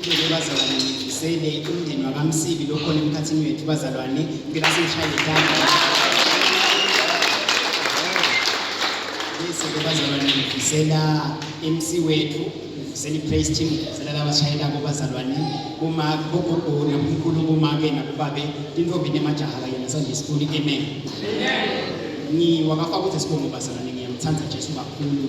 Ngicela bazalwane ngifisele umndeni wakamsibi lokhona emkhathini wethu bazalwane ngicela sishaye ithanda bese-ke bazalwane ngifisela MC wethu ngifisela i-praise team ngifisela labashayelako bazalwane uma bogogo nabomkhulu kuma-ke nakubabe tintombi nemajaha kanye nasanje sifuni amen ngiwakafaka ukuthi sibongo bazalwane ngiyamthanda jesu kakhulu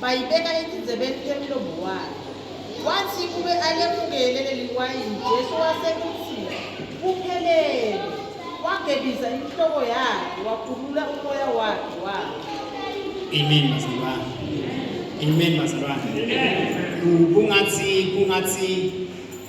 bayibeka etindzebeni temlomo wakhe watsi kube alemukele leliwayini jesu wasekutsi kuphelele wagebisa inhloko yakhe wakhulula umoya wakhe wakhe amen bazalwane amen bazalwane kungathi kungathi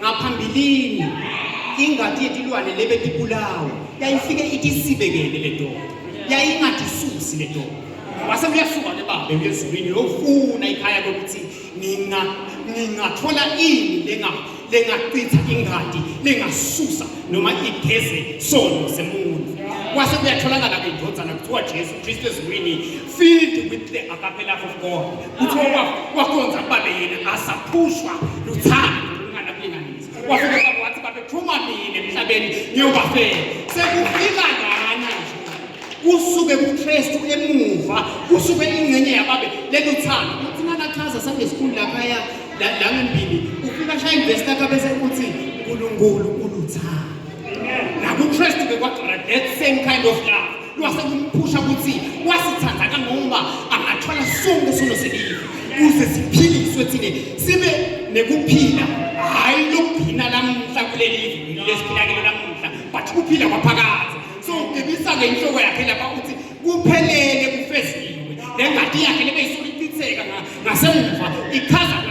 ngaphambilini ingadi yetilwane lebetibulawa yayifike itisibekele le ndoda yayingatisusi le ndoda wase uyasuka ke babe uyezulwini uyofuna ikhaya lokuthi nina ningathola ini lenga lengachitha ingadi lengasusa noma igeze sono semuntu wase kuyatholakala ke indodana kuthiwa Jesu Kristu ezulwini filled with the agape love of God kuthiwa ubaba wakhonza kubale yena asaphushwa luthando lungana kulinganisa wafika ubaba wathi babe phuma mina emhlabeni ngiyobafela sekufika lana nje kusuke kuKristu emuva kusuke ingcenye yababe lelo thando uthi nakachaza sangesikhulu lapha ya la ngempini ufika shaya investor ka bese uthi uNkulunkulu uluthando nakuKristu ke kwagcina that same kind of love wase kumphusha ukuthi wasithanda kangoba angathola sonke sono selive kuze siphiliswe thine sibe nekuphila hhayi lokuphina lamuhla kuleli lesiphila kilo lamuhla but kuphila kwaphakathi so ugebisa-ke inhloko yakhe lapha ukuthi kuphelele kufeziwe nengadi yakhe lebeyisuke ichitheka ngasemuva ichaza